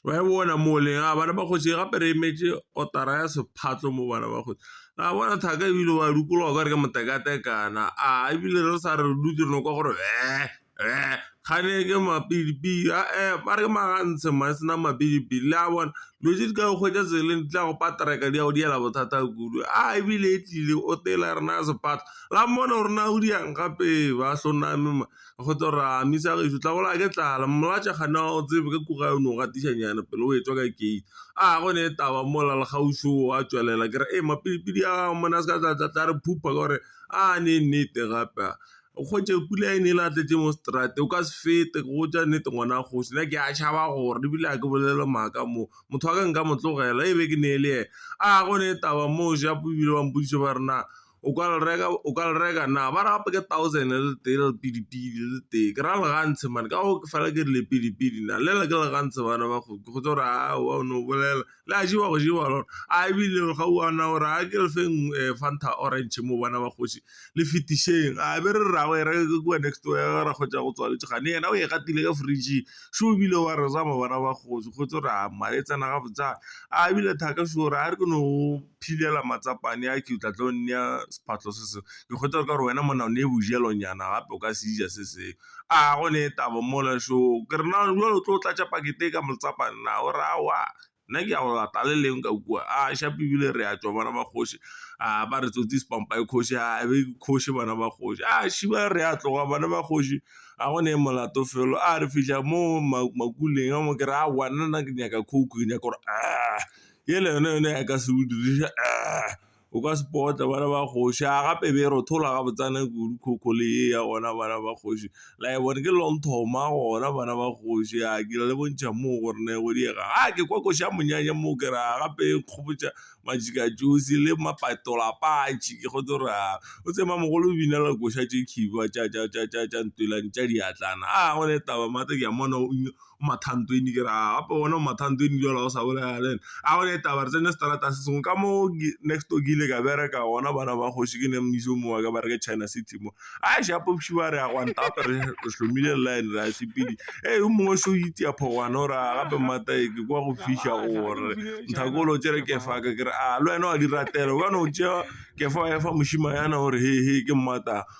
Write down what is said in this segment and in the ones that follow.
Wa e bona mo le a bana ba kgoši gape re emetše kotara ya sephatlo mo bana ba kgoši ra bona thaka ebile wa dikologa o ka re ke motekatekana a ebile re sa re dutse re no kwa gore kgane ke mapidipidi a ba re ke magantshe ma e sena mapidipidi le a bona dilo tse di ka go kgwetša tseleng di tla go paterka di a go diela bothata kudu a ebile e tlile o tela rena sephatlo la mmone gore na o diang gape ba hloname. go tlo re a mmisa gešo tla bolaya ke tlala mmolaya tša kgane wa go tsebe ka kura o no gatiša nyana pele o etšwa ka gate a go ne e taba mola le kgauswi o a tšwelela ke re e mapidipidi a monna se ka tla tla tla re phupha ka gore a ne nnete gape a o kgwetše pula e ne e le a tletse mo seterateng o ka se fete go tša nnete ngwana kgoši nna ke a tšhaba gore ebile a ke bolele maaka mo motho wa ka nka mo tlogela e be ke ne e le ena a go ne e taba moo ja ebile ba mpotšiša ba re na O ka le reka, o ka le reka na, ba re gape ke thousand le le tee le lepidipidi le le tee, ke ra le gantshe mane ka gore ke fela ke re lepidipidi na, le le ke le gantshe bana ba kgomo, ke kgotse gore aowa o no bolela, le a jewa go jewa lona, a ebile ga o a na gore a ke le feng Fanta orange mo bana ba kgoši le fetišeng, a be re re ra go e reka ke kua next door ya ga rakgwetša go tswa Letše kgane yena o e gatile ka fridge-ing, šo ebile wa re zama bana ba kgoši, kgotse gore a mare e tsena gabotse yana, a ebile thaka šo, ra re ke no. philela matsapane a ke tla tlo nea sephahlo se sengwe, ke kgotha gore ka gore wena monna o ne bojelonyana gape o ka se ja se sengwe, a go ne taba mola šo ke re na jwale o tlo tlatša pakete e ka matsapane na, o re aowa nna ke ya go lata le leng ka kua, a shapo ebile re ya tšwa bana ba kgoši a ba re tsotsi sepampa e kgoši a be ke kgoši bana ba kgoši, a še ba re ya tloga bana ba kgoši a go ne molato felo a re fitlha mo makuleng a mo ke re aowa nna ke nyaka coke ke nyaka gore . Yela yona yone ya ka se o diriša o ka se potla bana ba kgoši a gape be e rothola ga botsana kudu coco le ye ya gona bana ba kgoši la e bone ke long thoma gona bana ba kgoši a ke le bontšha mo gore ne go diega a ke kwa koša monyanya mo ke ra gape e kgopetša majika josi le mapatola patši ke kgotse gore a o tsema mogolo o bina la koša tše khiba tša tša tša tša tša ntwelang tša diatlana a gone taba mate ke a mmona o. o matha ntho eno ke re a gape gona o matha ntho eno jwale ga o sa bolela le ene, a gone taba re tsene seterateng se sengwe ka mo next door ke ile ka bereka gona bana ba kgoši ke ne mmuso o mongwe wa ka ba re ke China City mo a ša popši ba re ya gwanta gape re hlomile line re a sepedi e yo mongwe so itia phogwana o re a gape mmata e ke kwa go fiša gore nthakolo tsere ke fa ka ke re a le wena wa di ratela o ka no tšea ke fa wa efa mošima yana o re he he ke mmata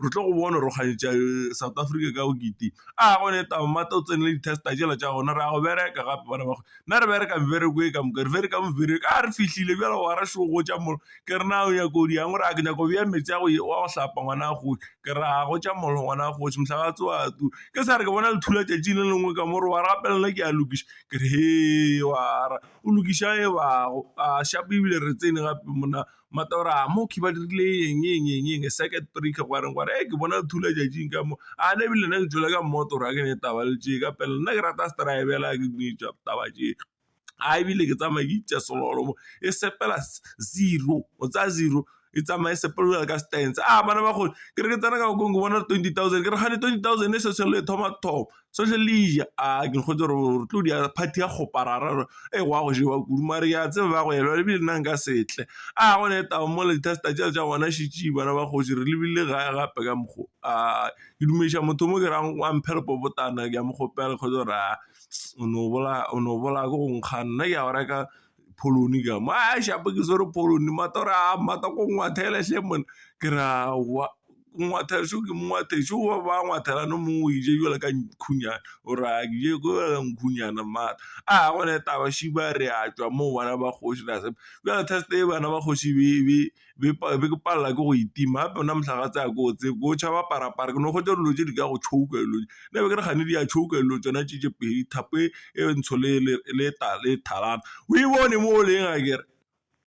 re tlo go bona gore kgantšha South Africa ka bokete a go ne tamati o tsene le di-tester tšela tša gona re a go bereka gape bana ba nna re bereka mebereko e ka moka re bereka mebereko a re fihlile bjale wa ra šoo go tša molo ke re na o nyaka o di yang gore a ke nyaka o beya metsi a go wa go hlapa ngwana a kgoši ke re a go tša molo ngwana a kgoši mohla wa tsowa tu ke sa re ke bona lethula tšatši le lengwe ka mo re wa gape nna ke a lokiša ke re he wa ra o lokiša e bago a šapo ebile re tsene gape monna. Matora, mo khiba dirile eng eng eng eng circuit breaker gwa reng gore e ke bona thula jajing ka mo a ne bile nna ke tšwele ka motora ke ne taba le tše ka pele nna ke rata stribela ke dinetša taba tše a ebile ke tsamaya ke itša selolo mo e sepela zero o tsaya zero e tsamaye sepela ka stance a bana ba kgole ke re ke tsena ka gong ke bona twenty thousand ke re kgane twenty thousand e se selo e thoma thoma. social media a ke kgotse gore re tlo di a party ya kgopa ra ra e wa go jewa kudu mare ke a tseba ba go elwa lebile nna nka setle a gone taba mo le tsa tša tša gona šetše bana ba kgoši re lebile ga gape ka mokgo a ke dumediša motho mo ke ra wa mphe lepo botana ke a mo kgopela kgotsa gore a o no bolaya o no bolaya ke go nkga nna ke a go reka. pholoni ka mo a shape ke swere pholoni mata ore a mata ko ngwathele hle monna ke ra wa ko ngwathele sho ke mongwathele sho ba ba ngwathela no mongwe o ije jwale ka nkhunyana o re a ke je ko ka nkhunyana mata a gone taba šiba re a tšwa moo bana ba kgoši ra se jwale test e bana ba kgoši be be ke palelwa ke go e tima gape gona mohlagase a ke o tsebe ke o tšhaba parapara ke no kgotsa dilo tse di ka go tšhouka dilo tse ne be ke re kgane di a tšhouka dilo tsona tše tše pedi thapo e ntsho le e tala o e bone mo o leng akere.